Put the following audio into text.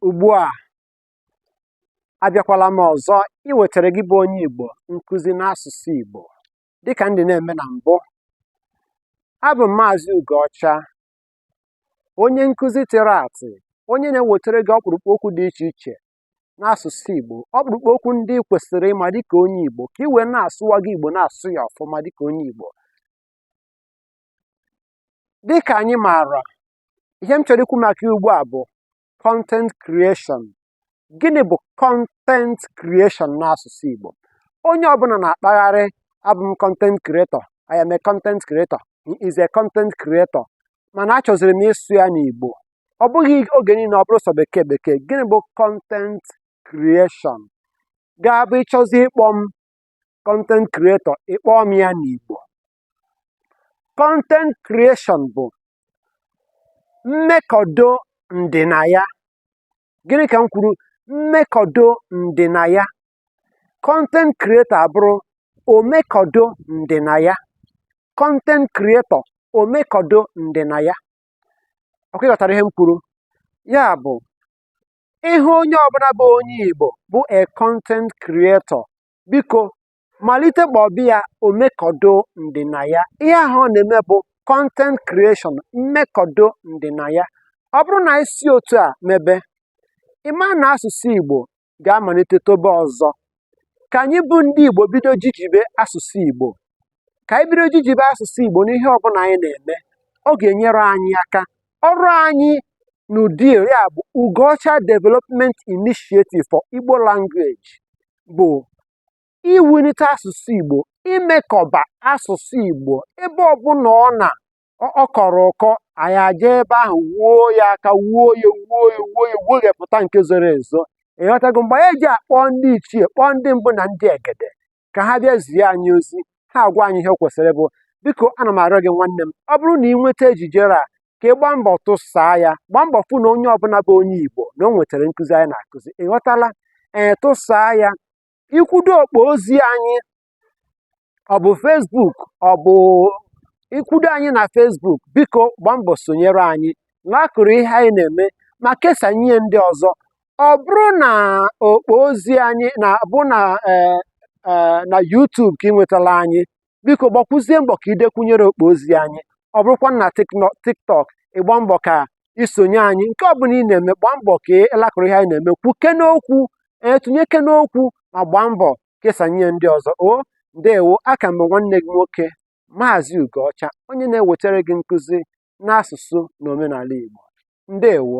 Ugbu a, abịakwala m ọzọ iwetara gị bụ onye Igbo nkụzi n'asụsụ Igbo dịka m dị na-eme na mbụ. Abụ m Maazị Ugoọcha, onye nkụzi tịrị atị, onye na-ewetara gị ọkpụrụkpụ okwu dị iche iche n'asụsụ Igbo, ọkpụrụkpụ okwu ndị ị kwesịrị ịma dịka onye Igbo ka ị wee na-asụwaga Igbo na-asụ ya ọfụma dịka onye Igbo. Dịka anyị maara, ihe m chọrọ ikwu maka ya ugbu a bụ content creation gịnị bụ content creation n'asụsụ Igbo onye ọbụla na-akpagharị abụ m content creator I am a content creator he is a content creator mana achọziri m ịsụ ya n'Igbo ọ bụghị oge niile ọ bụrụ sọ bekee bekee gịnị bụ content creation ga-abụ ị chọzi ịkpọ m content creator ị kpọọ m ya n'Igbo content creation bụ mmekọdo ndịnaya gịnị ka m kwuru mmekọdo ndịnaya content creator abụrụ omekọdo ndịnaya content creator omekọdo ndịnaya ọ kwa ị ghọtara ihe m kwuru ya bụ ị hụ onye ọbụla bụ onye Igbo bụ a content creator biko malite kpọba ya omekọdo ndịnaya ihe ahụ ọ na-eme bụ content creation mmekọdo ndịnaya ọ bụrụ na anyị si otu a mebe ị ma na asụsụ Igbo ga-amalite tobe ọzọ ka anyị bụ ndị Igbo bido jijibe asụsụ Igbo ka anyị bido jijibe asụsụ Igbo n'ihe ọbụla anyị na-eme ọ ga-enyere anyị aka ọrụ anyị n'UDI ya bụ Ugoọcha Development Initiative for Igbo Language bụ iwulite asụsụ Igbo imekọba asụsụ Igbo ebe ọbụla ọ na ọ kọrọ ụkọ anyị aja ebe ahụ wuo ya aka wuo ya wuo ya wuo ya weghepụta nke zoro ezo ị ghọtago mgbe anyị ji akpọ ndị ichie kpọọ ndị mbụ na ndị egede ka ha bịa zie anyị ozi ha agwa anyị ihe kwesịrị bụ biko ana m arịọ gị nwanne m ọ bụrụ na ị nweta ejijere a ka ị gbaa mbọ tụsaa ya gbaa mbọ fụ na onye ọbụla bụ onye igbo na o nwetara nkụzi anyị na-akụzi ị ghọtala ee tụsaa ya i kwudo okpo ozi anyị ọ bụ Facebook ọ bụ i kwudo anyị na Facebook biko gbaa mbọ sonyere anyị lakụrụ ihe anyị na-eme ma kesaa nye ndị ọzọ ọ bụrụ na okpo ozi anyị na bụ na ee ee na YouTube ka ị nwetala anyị biko gbakwuzie mbọ ka i dekwunyere okpo ozi anyị ọ bụrụkwa na tiktok ị gbaa mbọ ka i sonye anyị nke ọ bụla ị na-eme gbaa mbọ ka ị laịkụrụ ihe anyị na-eme kwuke n'okwu tụnyeke n'okwu ma gbaa mbọ kesanye ndị ọzọ o ndewo aka m bụ nwanne gị nwoke maazị ugoọcha onye na-ewetara gị nkụzi n'asụsụ na omenala igbo ndewo